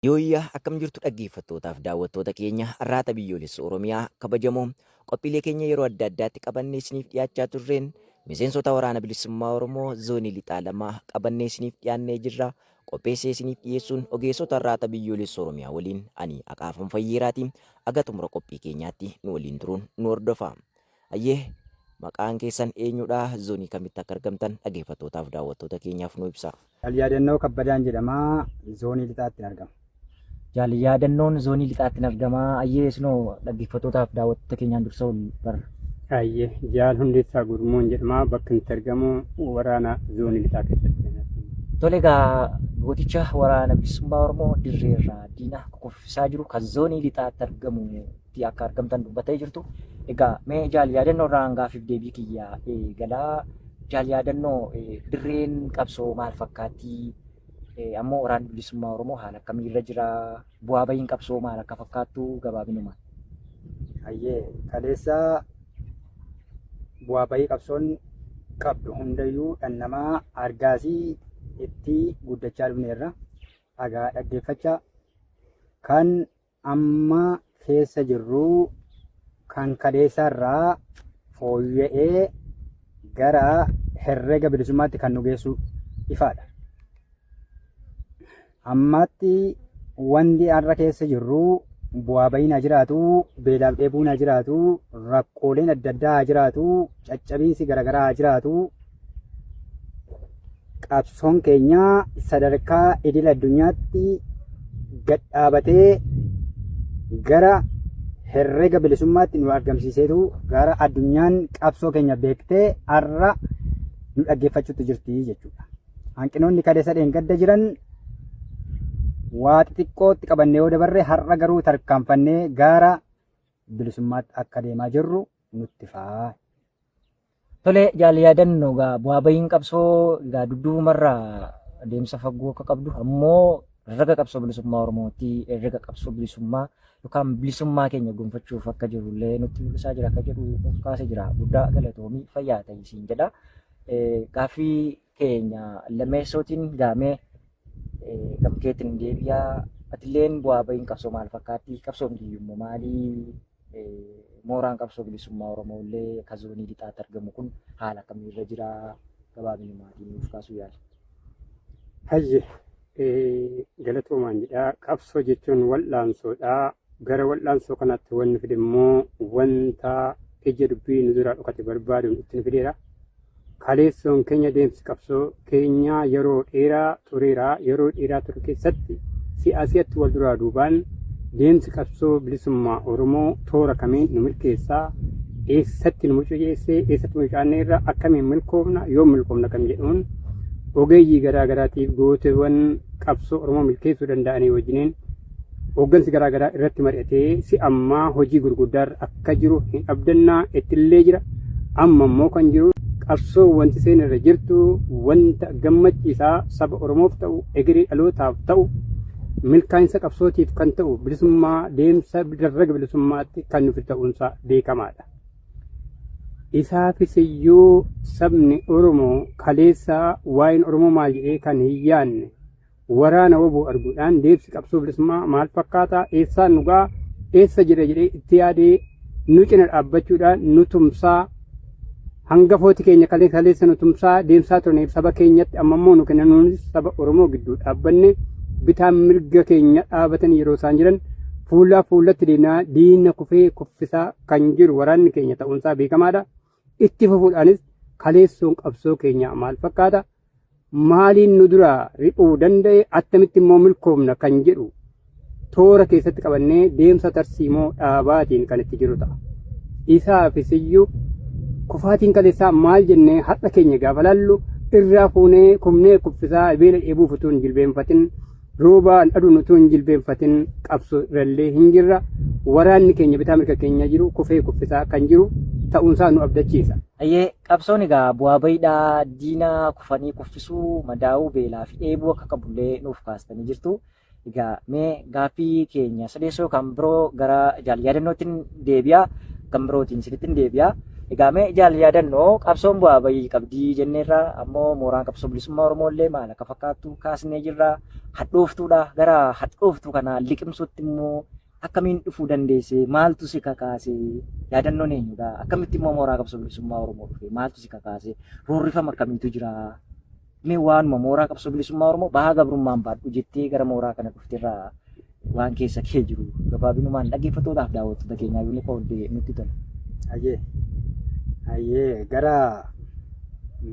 Yooyyaa akkam jirtu dhaggeeffattootaaf daawwattoota keenya arraata biyyoolessa Oromiyaa kabajamoo qophiilee keenya yeroo adda addaatti qabannee isiniif dhiyaachaa turreen miseensota waraana bilisummaa Oromoo zoonii lixaa lamaa qabannee isiniif dhiyaannee jirra. Qopheessee isiniif dhiyeessuun ogeessota arraata biyyoolessa Oromiyaa waliin ani Aqaafan Fayyeeraatiin aga xumura qophii keenyaatti nu waliin turuun nu hordofaa. Hayyee maqaan keessan eenyudha? Zoonii kamitti akka argamtan dhageeffattootaaf daawwattoota keenyaaf nuu ibsaa. Jaal Yaadannoo Kabbadaan jedhama. Zoonii Lixaattin argama. Jaal Yaadannoon Zoonii Lixaattin argama. Hayyee isinoo dhaggeeffattootaaf daawwattoota keenyaan dursa wal barra. Hayyee Jaal Hundeessaa Gurmuun jedhama. Bakki nuti argamu waraana Zoonii Lixaa keessatti. Tole egaa gooticha waraana bilisummaa Oromoo dirreerraa diina kukuffisaa jiru kan Zoonii Lixaatti argamu tti akka argamtan dubbattee jirtu. Egaa mee jaal yaadannoo irraan gaaffiif deebii kiyya eegalaa. Jaal yaadannoo dirreen qabsoo maal fakkaatti? Ammoo waraanni bilisummaa Oromoo haala akkamii irra jira? Bu'aa bahiin qabsoo maal akka fakkaattu gabaabinumaan. Hayyee kaleessa bu'aa bahii qabsoon qabdu hundayyuu dhannamaa argaasii itti guddachaa dhufneerra. Dhagaa dhaggeeffachaa kan amma keessa jirru kan kaleessaa irraa fooyya'ee gara herrega bilisummaatti kan nu geessu ifaadha. Ammaatti wanti har'a keessa jirru bu'aa ba'iin haa jiraatu, beelaaf dheebuun haa jiraatu, rakkooleen adda addaa haa jiraatu, caccabiinsi garaagaraa haa jiraatu. qabsoon keenya sadarkaa idil addunyaatti gad dhaabatee gara herrega bilisummaatti nu argamsiiseetu gara addunyaan qabsoo keenya beektee har'a nu dhaggeeffachuutti jirti jechuudha. Hanqinoonni kadeessa dheengadda jiran waa xixiqqootti qabannee yoo dabarre har'a garuu tarkaanfannee gara bilisummaatti akka deemaa jirru nutti fa'a. Tole jaal yaadanno egaa bu'aa bahiin qabsoo egaa dudduubumarraa adeemsa fagoo akka qabdu ammoo raga qabsoo bilisummaa Oromootti raga qabsoo bilisummaa yookaan bilisummaa keenya gonfachuuf akka jiru illee nutti mul'isaa jira akka jedhu nuuf kaase jira. Guddaa galatoomii fayyaa ta'isiin jedha. Gaaffii keenya lammeessootiin gaamee gamkeetiin deebi'a. Atilleen bu'aa ba'iin qabsoo maal fakkaatti? Qabsoon biyyummaa maalii? Mooraan qabsoo bilisummaa Oromoo illee akka zoonii lixaatti argamu kun haala akkamii irra jira? Gabaabinni maatii nuuf kaasuu yaala. Hayye galatoomaan jedha. Qabsoo jechuun wal'aansoodha. Gara wal'aansoo kanaatti wanni fide immoo wanta ija dubbii nu duraa dhokate barbaaduun itti nu fideera. Kaleessoon keenya deemsi qabsoo keenyaa yeroo dheeraa tureera. Yeroo dheeraa ture keessatti si'a si'atti wal duraa duubaan deemsi qabsoo bilisummaa Oromoo toora kamiin nu milkeessa, eessatti nu mucuceessee, eessatti mucucaannee irra akkamiin milkoomna, yoom milkoomna kan jedhuun ogeeyyii garaa garaatiif gooteewwan qabsoo Oromoo milkeessuu danda'anii wajjiniin Hooggansi garaa garaa irratti mari'atee si ammaa hojii gurguddaarra akka jiru hin abdannaa ittillee jira. Amma immoo kan jiru qabsoo wanti seen irra jirtu wanta gammachiisaa saba Oromoof ta'u egeree dhalootaaf ta'u milkaa'insa qabsootiif kan ta'u bilisummaa deemsa darraga bilisummaatti kan nuti ta'uunsaa beekamaadha. Isaafis iyyuu sabni Oromoo kaleessaa waa'een Oromoo maal jedhee kan hin yaanne waraana wbo arguudhaan deemsi qabsoo bilisummaa maal fakkaataa eessaan nu ga'a eessa jira jedhee itti yaadee nu cina dhaabbachuudhaan nu tumsaa hangafooti keenya kalee kaleessa nu tumsaa deemsaa turaniif saba keenyatti amma immoo nu kennanuunis saba Oromoo gidduu dhaabbanne bitaan mirga keenya dhaabatan yeroo isaan jiran fuulaa fuulatti deemnaa diina kufee kuffisaa kan jiru waraanni keenya ta'uunsaa beekamaadha. Itti fufuudhaanis kaleessoon qabsoo keenyaa maal fakkaata? Maaliin nu duraa riphuu danda'e? Attamitti immoo milkoomna kan jedhu toora keessatti qabannee deemsa tarsiimoo dhaabaatiin kan itti jiru ta'a. Isaafis iyyuu kufaatiin kaleessaa maal jennee har'a keenya gaafa laallu irraa fuunee kumnee kuffisaa beela dheebuuf utuu hin jilbeenfatin Rooba aduun utuu hin jilbeenfatin qabsoo irrallee hin jirra. Waraanni keenya bitaa mirga keenya jiru kufee kuffisaa kan jiru ta'uunsaa nu abdachiisa. Ayyee qabsoon egaa bu'aa bayiidhaa diina kufanii kuffisuu madaa'uu beelaa fi dheebuu akka qabullee nuuf kaastanii jirtu. Egaa mee gaaffii keenya sadeessoo kan biroo gara jaal yaadannootiin deebi'a kan birootiin isinitti hin deebi'a. Egaa mee jaal yaadannoo qabsoon bu'aa bayii qabdii jenneerra ammoo mooraan qabsoo bilisummaa Oromoo illee maal akka fakkaattu kaasnee jirra. Hadhooftuudha gara hadhooftuu kana liqimsuutti immoo akkamiin dhufuu dandeesse maaltu si kakaase yaadannoon eenyudha akkamitti immoo mooraa qabsoo bilisummaa Oromoo dhufe maaltu si kakaase roorrifama akkamiitu jira Mee waanuma mooraa qabsoo bilisummaa Oromoo bahaa gabrummaan baadhu jettee gara mooraa kana dhufterraa waan keessa kee jiru gabaabinumaan dhaggeeffattootaaf daawwattoota keenyaa yoo nuuf ooltee nutti tola. Hayyee. Hayyee gara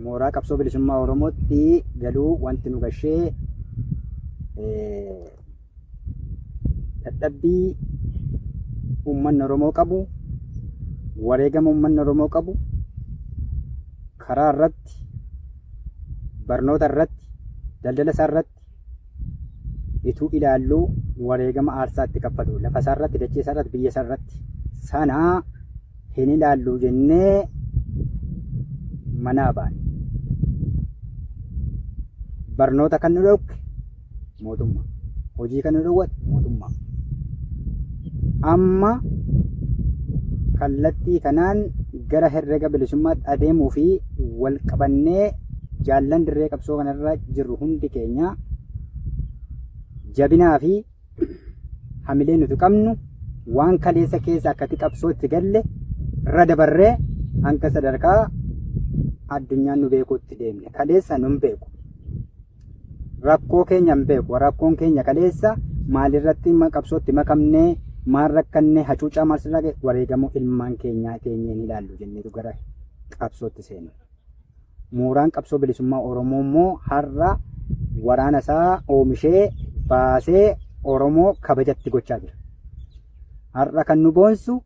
mooraa qabsoo bilisummaa Oromootti galuu wanti nu gashee eh, dadhabbii uummanni Oromoo qabu, wareegama uummanni Oromoo qabu karaa irratti, barnoota irratti, daldala isaa irratti ituu ilaalluu wareegama aarsaa itti kaffalu lafa isaa irratti, dachee isaa irratti, biyya isaa irratti sana hin ilaallu jennee manaa baane. Barnoota kan nu dhorke mootummaa. Hojii kana dhowwate mootummaa. Amma kallattii kanaan gara herrega bilisummaatti adeemuu fi wal qabannee jaallan dirree qabsoo kanarra jirru hundi keenya jabinaa fi hamilee nuti qabnu waan kaleessa keessa akkati qabsootti galle irra dabarree hanga sadarkaa addunyaan nu beekuutti deemne. Kaleessa nun beeku. rakkoo keenya hin beeku rakkoon keenya kaleessa maalirratti ma- qabsootti makamnee maal rakkannee hacuucaa maal sirraa ga'e wareegamuu ilmaan keenyaa keenyeen ilaallu jenneetu gara qabsootti seenu. Mooraan qabsoo bilisummaa Oromoo immoo har'a waraana isaa oomishee baasee Oromoo kabajatti gochaa jira. Har'a kan nu boonsu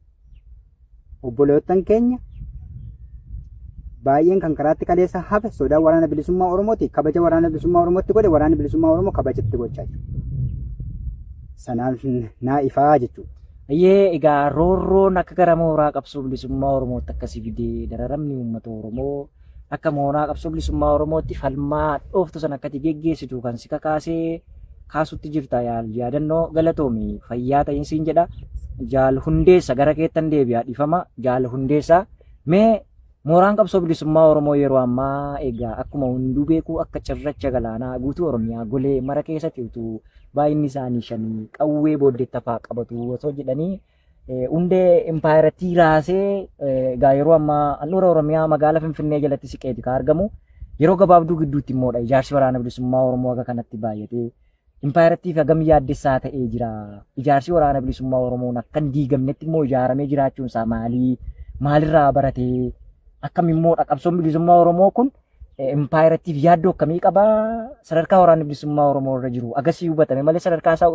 Obboleewwan keenya baay'een kan karaatti kaleessa hafe sodaa waraana bilisummaa Oromooti. Kabaja waraana bilisummaa Oromootti godhe waraanni bilisummaa Oromoo kabajatti gochaa jiru. Sanaaf naa ifaa jechuudha. Ayyee egaa roorroon akka gara mooraa qabsoo bilisummaa Oromootti akkasii fidee dararamni uummata Oromoo akka mooraa qabsoo bilisummaa Oromootti falmaa dhooftu san akkati geggeessitu kan si kakaasee kaasutti jirta yaal yaadannoo galatoomi fayyaa ta'in siin jedha jaal hundeessa gara keettan deebi'a dhifama jaal hundeessa mee mooraan qabsoo bilisummaa Oromoo yeroo ammaa egaa akkuma hunduu beeku akka cirracha galaanaa guutuu Oromiyaa golee mara keessatti utuu baay'inni isaanii shanii qawwee booddeetti hafaa qabatu osoo jedhanii hundee impaayerattii raasee egaa yeroo ammaa handhuura Oromiyaa magaalaa Finfinnee jalatti siqeeti kan argamu. Yeroo gabaabduu gidduutti immoodha ijaarsi waraana bilisummaa Oromoo akka kanatti baay'atee impaayerattiif hagam yaaddessaa ta'ee jira. Ijaarsi waraana bilisummaa Oromoon akka hin diigamnetti immoo ijaaramee jiraachuun isaa maalii? Maalirraa baratee? Akkam immoo qabsoon bilisummaa Oromoo kun impaayerattiif yaaddoo akkamii qaba? Sadarkaa waraanni bilisummaa Oromoo irra jiru agasii hubatame malee sadarkaa isaa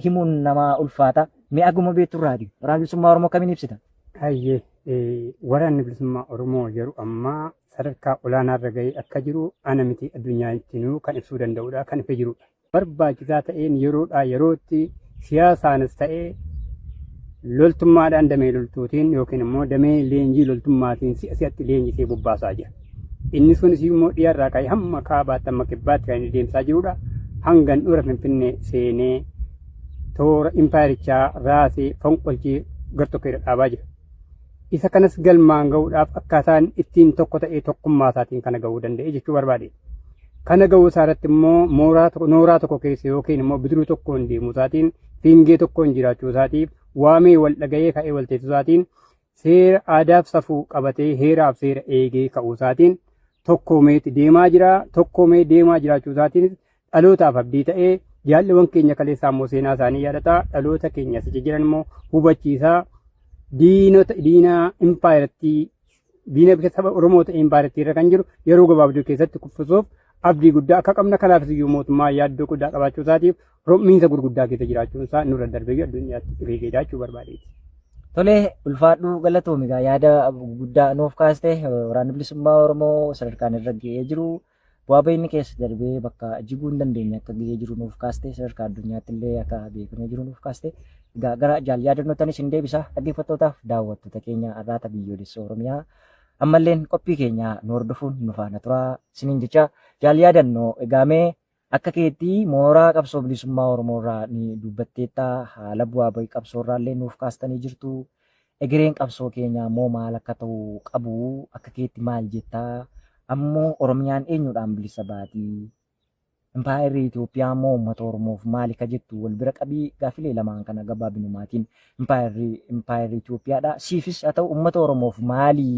himuun nama ulfaata. Mee aguma beektu irraati. Waraana bilisummaa Oromoo kamiin ibsita? Hayyee eh, waraanni bilisummaa Oromoo yeroo ammaa sadarkaa olaanaa irra ga'ee akka jiru ana miti addunyaa ittinuu kan ibsuu danda'udha kan ifa jirudha. Barbaachisaa ta'een yeroodhaa yerootti siyaasaanis ta'ee loltummaadhaan damee loltuutiin yookiin immoo damee leenjii loltummaatiin si'a si'atti leenjisee bobbaasaa jira. Inni sunis immoo dhiyarraa ka'ee hamma kaabaatti hamma kibbaatti kan inni deemsaa jirudha. Hanga handhuura Finfinnee seenee toora impaayerichaa raasee fonqolchee gar tokko irra dhaabaa jira. Isa kanas galmaan ga'uudhaaf akkaataan ittiin tokko ta'ee tokkummaa isaatiin kana ga'uu danda'e jechuu barbaade. Kana ga'uu isaa irratti immoo mooraa tokko nooraa tokko keessa yookiin immoo bidiruu tokkoon deemuu isaatiin fiingee tokkoon jiraachuu isaatiif waamee wal dhaga'ee ka'ee wal teessuu isaatiin seera aadaaf safuu qabatee heeraaf seera eegee ka'uu isaatiin tokkoomeeti deemaa jira. Tokkoomee deemaa jiraachuu isaatiin dhalootaaf abdii ta'ee jaalliwwan keenya kaleessaa immoo seenaa isaanii yaadataa dhaloota keenya sichi jiran immoo hubachiisaa diinota diina impaayerattii diina biyya saba Oromoo ta'e impaayerattii irra kan jiru yeroo gabaabduu keessatti kuffisuuf abdii guddaa akka qabna kanaafis iyyuu mootummaa yaaddoo guddaa qabaachuu isaatiif rom'iinsa gurguddaa keessa jiraachuun isaa nurra darbee addunyaatti rigeedhaa jechuu barbaadeeti. Tolee ulfaadhuu galatoomi egaa yaada guddaa nuuf kaaste waraanni bilisummaa Oromoo sadarkaan irra ga'ee jiru bu'aa ba'iinni keessa darbee bakka jiguu hin dandeenye akka ga'ee jiru nuuf kaaste sadarkaa addunyaatti illee akka beekamee jiru nuuf kaaste egaa gara jaal yaadannotanis hin deebisa dhaggeeffattootaaf daawwattoota keenya arraata biyyoolessa Oromiyaa ammalleen qophii keenya nu hordofuun nu faana turaa isiniin jecha jaal yaadannoo egaamee Akka keetti mooraa qabsoo bilisummaa Oromoo irraa ni dubbatteetta, haala bu'aa ba'ii qabsoo irraa illee nuuf kaastanii jirtu. Egereen qabsoo keenyaa immoo maal akka ta'u qabu akka keetti maal jetta? Ammoo Oromiyaan eenyuudhaan bilisa baati? Impaayerri Itoophiyaa immoo uummata Oromoof maali ka jettu wal bira qabii gaafilee lamaan kana gabaabinumaatiin impaayerri impaayerri Itoophiyaadha. Siifis haa ta'u uummata Oromoof maali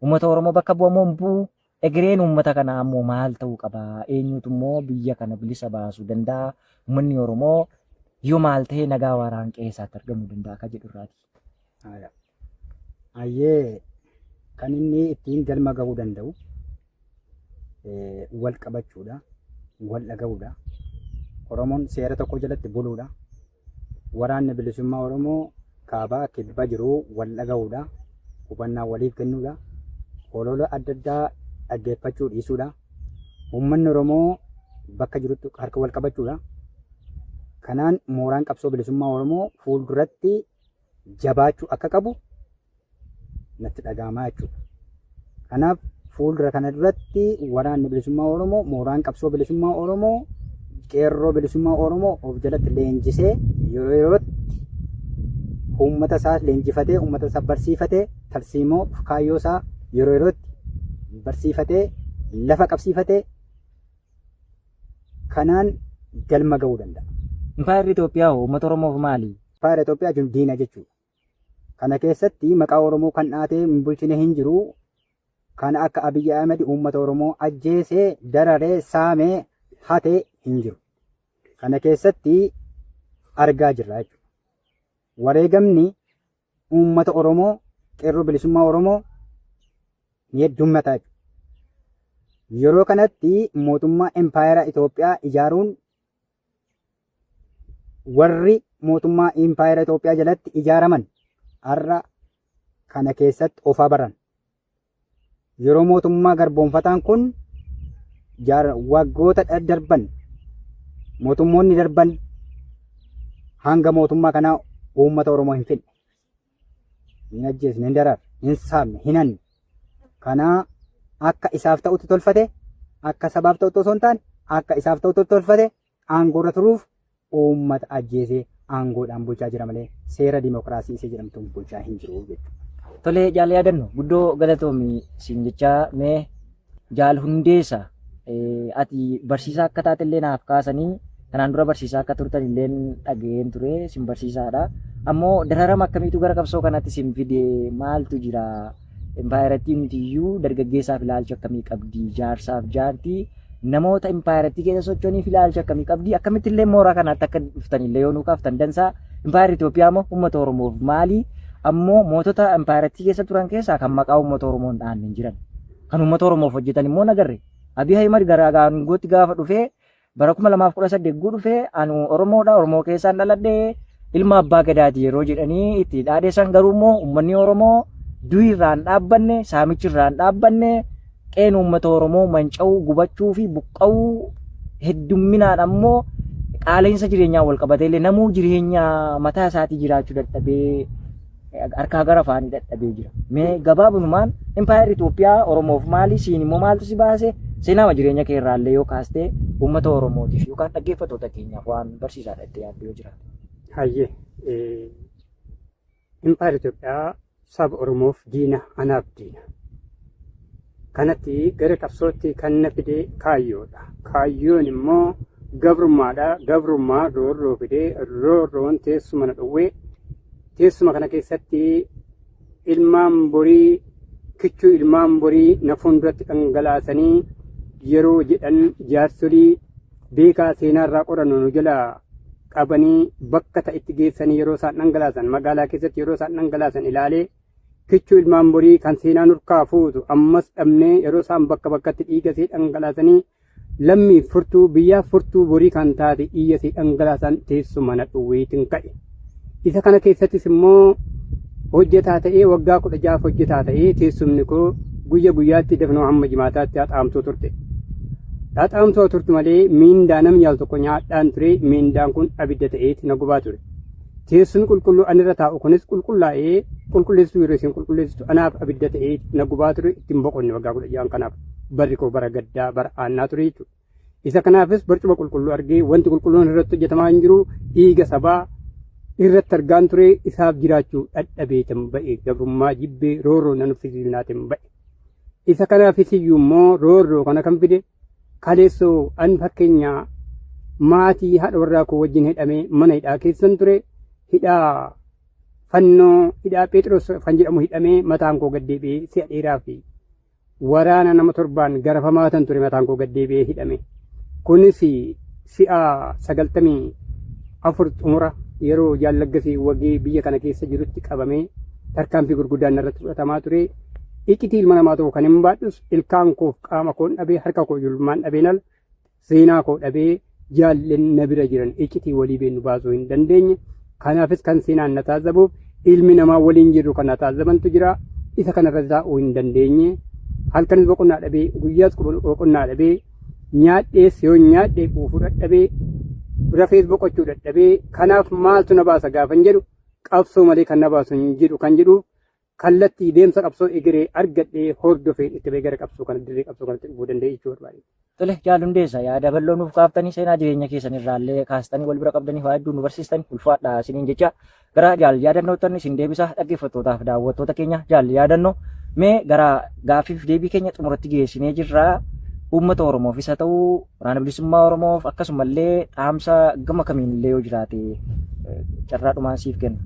Uummata Oromoo bakka bu'a moo hin bu'u? Egereen uummata kanaa ammoo maal ta'uu qaba? Eenyuutu immoo biyya kana bilisa baasuu danda'a? Uummanni Oromoo yoo maal ta'e nagaa waaraan qe'ee isaatti argamuu danda'a akka jedhu irraati. Haaya. Ayyee kan inni ittiin galma gahuu danda'u eh, wal qabachuudha, wal dhaga'uudha. Oromoon seera tokko jalatti buluudha. Waraanni bilisummaa Oromoo kaabaa kibba jiru wal dhaga'uudha, hubannaa waliif kennuudha, holola adda addaa dhaggeeffachuu dhiisuudha. Uummanni Oromoo bakka jirutti harka wal qabachuudha. Kanaan mooraan qabsoo bilisummaa Oromoo fuulduratti jabaachuu akka qabu natti dhaga'amaa jechuudha. Kanaaf fuuldura kana duratti waraanni bilisummaa Oromoo mooraan qabsoo bilisummaa Oromoo qeerroo bilisummaa Oromoo of jalatti leenjisee yeroo yerootti uummata isaa leenjifatee uummata isaa barsiifatee tarsiimoo kaayyoo isaa yeroo yerootti barsiifatee lafa qabsiifatee kanaan galma ga'uu danda'a. Impaayerri Itoophiyaa hoo uummata Oromoof maali? Impaayera Itoophiyaa jechuun diina jechuudha. Kana keessatti maqaa Oromoo kan dhaatee hin bulchine hin jiru. Kana akka Abiyyi Ahmed uummata Oromoo ajjeesee, dararee, saamee, hate hin jiru. Kana keessatti argaa jirra jechuudha. Wareegamni uummata Oromoo qeerroo bilisummaa Oromoo ni heddummataa jiru. Yeroo kanatti mootummaa empaayeraa Itoophiyaa ijaaruun warri mootummaa empaayeraa Itoophiyaa jalatti ijaaraman har'a kana keessatti ofaa baran. Yeroo mootummaa garboonfataan kun waggoota darban mootummoonni darban hanga mootummaa kanaa uummata Oromoo hin fidne. Hin ajjeesne, hin dararre, hin saamne, hin hanne. Kanaa akka isaaf ta'utti tolfate, akka sabaaf ta'utti osoo hin taane, akka isaaf ta'utti tolfate, aangoorra turuuf uummata ajjeesee aangoodhaan bulchaa jira malee seera dimokiraasii isa jedhamtuun bulchaa hin jiru jechuudha. Tolee jaal yaadannu guddoo galatoomi siin jechaa mee jaal hundeessa ati barsiisaa akka taate illee naaf kaasanii kanaan dura barsiisaa akka turtan illee dhaga'een ture sin barsiisaadha. Ammoo dararama akkamiitu gara qabsoo kanatti sin fide maaltu jira? Impaayerattii mitiyyuu dargaggeessaaf ilaalcha akkamii qabdi? Jaarsaaf jaartii namoota impaayerattii keessa socho'aniif ilaalcha akkamii qabdi? Akkamitti illee mooraa kanaatti akka dhuftan illee yoo nuu kaaftan dansaa impaayerri Itoophiyaa immoo uummata Oromoof maali? Ammoo mootota impaayerattii keessa turan keessaa kan maqaa uummata Oromoo hin dhaanne hin jiran. Kan uummata Oromoof hojjetan immoo nagarre. Abiy Ahimad gara aangootti gaafa dhufee Bara 2018 guu dhufee anu Oromoodha Oromoo keessaan dhaladhe ilma abbaa gadaati yeroo jedhanii itti dhaadheessan garuu immoo uummanni Oromoo du'i irraan dhaabbanne saamichi irraan dhaabbanne qeen uummata Oromoo manca'uu gubachuu fi buqqa'uu heddumminaan ammoo qaala'insa jireenyaa wal qabatee illee namuu jireenya mataa isaatii jiraachuu dadhabee harkaa gara afaanii dadhabee jira. Mee gabaabunumaan impaayerri Itoophiyaa Oromoof maali siin immoo maaltu si baase seenaama jireenya kee irraallee yoo kaastee uummata Oromootiif yookaan dhaggeeffattoota keenyaaf waan barsiisaadha itti yaaddu yoo jiraate. Hayyee impaayerri Itoophiyaa saba Oromoof diina anaaf diina. Kanatti gara qabsootti kan na fide kaayyoodha. Kaayyoon immoo gabrummaadha. Gabrummaa roorroo fidee roorroon teessuma na dhowwee Teessuma kana keessatti ilmaan borii kichuu ilmaan borii na fuulduratti dhangalaasanii yeroo jedhan jaarsolii beekaa seenaarraa qorannu nu jalaa qabanii bakka ta'itti geessanii yeroo isaan dhangalaasan magaalaa keessatti yeroo isaan dhangalaasan ilaalee kichuu ilmaan borii kan seenaa nurkaa fuutu ammas dhabnee yeroo isaan bakka bakkatti dhiigasee dhangalaasanii Lammiif furtuu biyyaaf furtuu borii kan taate dhiiya si dhangalaasan teessuma na dhowwiitin ka'e. Isa kana keessattis immoo hojjetaa ta'ee waggaa kudha jaaf hojjetaa ta'ee teessumni koo guyya guyyaatti dafnoo hamma jimaataatti haxaamtuu turte. Haxaamtuu turtu malee miindaa namni al tokko nyaadhaan ture miindaan kun abidda ta'eeti na gubaa ture. Teessumni qulqulluu anirra taa'u kunis qulqullaa'ee qulqulleessituu yeroo isin qulqulleessitu anaaf abidda ta'eeti na gubaa ture ittiin boqonne waggaa kudha ja'an kanaaf. Barri koo bara gaddaa bara aannaa ture jechuudha. Isa kanaafis barcuma qulqulluu argee wanti qulqulluun irratti hojjetamaa hin jiru dhiiga sabaa irratti argaan ture isaaf jiraachuu dhadhabeetan ba'e gabrummaa jibbee roorroo nan uffisiisnaatiin ba'e. Isa kanaafis iyyuu immoo roorroo kana kan fide kaleessoo an fakkeenyaa maatii haadha warraa koo wajjin hidhamee mana hidhaa keessan ture hidhaa fannoo hidhaa Pheexiroos kan jedhamu hidhamee mataan koo gad deebi'ee si'a dheeraa fi waraana nama torbaan garafamaa tan ture mataan koo gad deebi'ee hidhame. Kunis si'a sagaltamii afur xumura yeroo jaallaggasii wagii biyya kana keessa jirutti qabamee tarkaanfii gurguddaan narratti fudhatamaa ture. Iccitii ilma namaa tokko kan hin baadhus ilkaan koof qaama koon dhabee harka koo julmaan dhabeen al seenaa koo dhabee jaalleen na bira jiran iccitii walii beennu baasuu hin dandeenye. Kanaafis kan seenaan na taazzabuuf ilmi namaa waliin jirru kan na taazzabantu jira. Isa kanarra taa'uu hin dandeenye. Halkanis boqonnaa dhabee guyyaas boqonnaa dhabee nyaadhees yoo nyaadhee quufuu dadhabee rafees boqochuu dadhabee kanaaf maaltu na baasa gaafan jedhu qabsoo malee kan na baasu hin jiru kan jedhu kallattii deemsa qabsoo egeree argadhee hordofeen itti bahee gara qabsoo kana dirree qabsoo kanatti dhufuu danda'e jechuu barbaade. Tole jaal hundeessa yaada bal'oo nuuf kaaftanii seenaa jireenya keessan irraallee kaastanii wal bira qabdanii waa hedduu nu barsiistan ulfaadha isiniin jecha gara jaal yaadannootan isin deebisa dhaggeeffattootaaf daawwattoota keenya jaal yaadannoo mee gara gaaffiif deebii keenya xumuratti geessinee jirra uummata Oromoof isa ta'uu Waraana Bilisummaa Oromoof akkasumallee dhaamsa gama kamiin illee yoo jiraate carraa dhumaan siif kenna.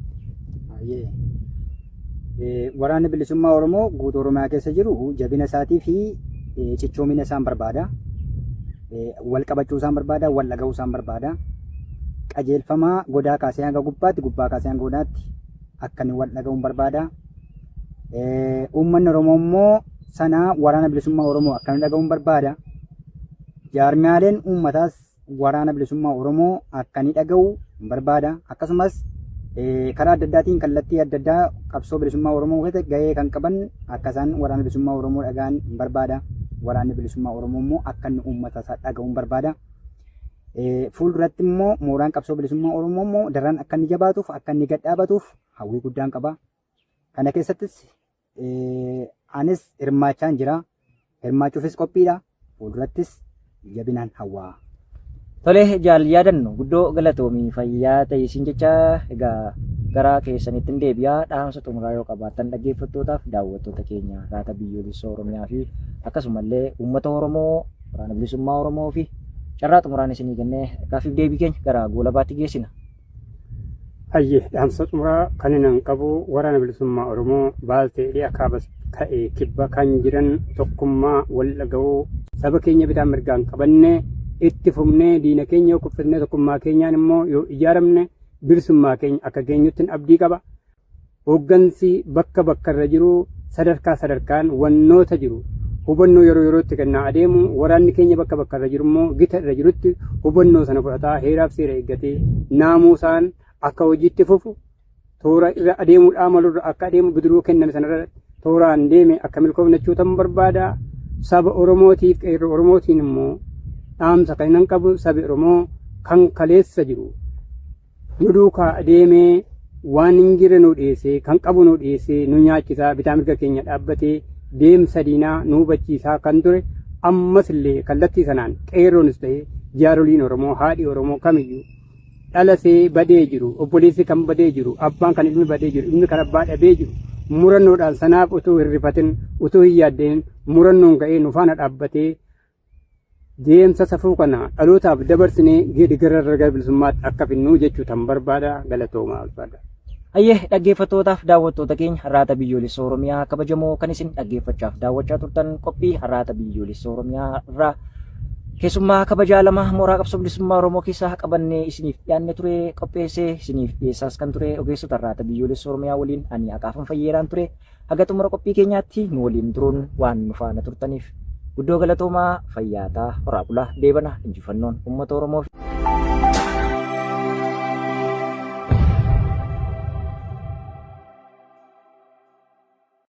Waraanni Bilisummaa Oromoo guutuu Oromiyaa keessa jiru jabina isaatii fi cichoomina isaan barbaada. Wal qabachuu isaan barbaada, wal dhaga'uu isaan barbaada. Qajeelfamaa godaa kaasee hanga gubbaatti, gubbaa kaasee hanga godaatti akka inni wal dhaga'uun barbaada. Uummanni Oromoo immoo sana waraana bilisummaa Oromoo akkana dhaga'uun barbaada. Jaarmiyaaleen uummataas waraana bilisummaa Oromoo akka ni dhaga'u hin barbaada. Akkasumas karaa adda addaatiin kallattii adda addaa qabsoo bilisummaa Oromoo keessatti gahee kan qaban akka isaan waraana bilisummaa Oromoo dhaga'an hin barbaada. Waraanni bilisummaa Oromoo immoo akka inni uummata isaa dhaga'u hin barbaada. Fuulduratti immoo mooraan qabsoo bilisummaa Oromoo immoo daran akka inni jabaatuuf akka inni gad dhaabatuuf hawwii guddaan qaba. Kana keessattis anis hirmaachaan jira. Hirmaachuufis qophiidha. Fuuldurattis jabinaan hawwaa. Tole jaal yaadannu guddoo galatoomii fayyaa ta'ii siin jecha egaa gara keessanitti hin deebi'aa dhaamsa xumuraa yoo qabaattan dhaggeeffattootaaf daawwattoota keenya raata biyyoolessa Oromiyaa fi akkasumallee uummata Oromoo waraana bilisummaa Oromoo fi carraa xumuraan isinii kennee gaaffiif deebii keenya gara goolabaatti geessina. Ayye dhaamsa xumuraa kan inan qabu waraana bilisummaa Oromoo baaltee dhi'a kaaba ta'e kibba kan jiran tokkummaa wal dhaga'uu saba keenya bitaan mirgaan qabanne itti fufnee diina keenya yoo kuffisnee tokkummaa keenyaan immoo yoo ijaaramne bilisummaa keenya akka geenyuttin abdii qaba. Hooggansi bakka bakkarra jiru sadarkaa sadarkaan wannoota jiru hubannoo yeroo yerootti kennaa adeemu, waraanni keenya bakka bakkarra jiru immoo gita irra jirutti hubannoo sana fudhataa heeraaf seera eeggatee naamuusaan akka hojiitti fufu toora irra adeemuudhaa malurra akka adeemu bidiruu kenname sanarra tooraan deeme akka milkoofnachuu ta'uu barbaada. Saba Oromootiif qeerroo Oromootiin immoo dhaamsa kan hin qabu sabi Oromoo kan kaleessa jiru nu duukaa deemee waan hin jirre nu dhiyeessee kan qabu nu dhiyeessee nu nyaachisaa bitaa mirga keenya dhaabbatee deemsa diinaa nu hubachiisaa kan ture ammas illee kallattii sanaan qeerroonis ta'e jaaroliin Oromoo haadhi Oromoo kamiyyuu dhalasee badee jiru obboleessi kan badee jiru abbaan kan ilmi badee jiru ilmi kan abbaa dhabee jiru murannoodhaan sanaaf utuu hin rifatin utuu hin yaaddeen murannoon ka'ee nu faana dhaabbatee Deemsa safuu kana dhalootaaf dabarsinee geeddagara irra gara bilisummaatti akka finnuu jechuu tan barbaada galatoomaa ulfaadha. Hayyee dhaggeeffattootaaf daawwattoota keenya har'aata biyyoolessa Oromiyaa kabajamoo kan isin dhaggeeffachaaf daawwachaa turtan qophii har'aata biyyoolessa Oromiyaa irraa keessummaa kabajaa lama mooraa qabsoo bilisummaa Oromoo keessaa qabannee isiniif dhiyaanne ture qopheessee isiniif dhiyeessaas kan ture ogeessota har'aata biyyoolessa Oromiyaa waliin ani Aqaafan Fayyeeraan ture Haga xumura qophii keenyaatti nu waliin turuun waan nu faana turtaniif guddoo galatoomaa fayyaataa horaa bulaa deebana injifannoon uummata Oromoof.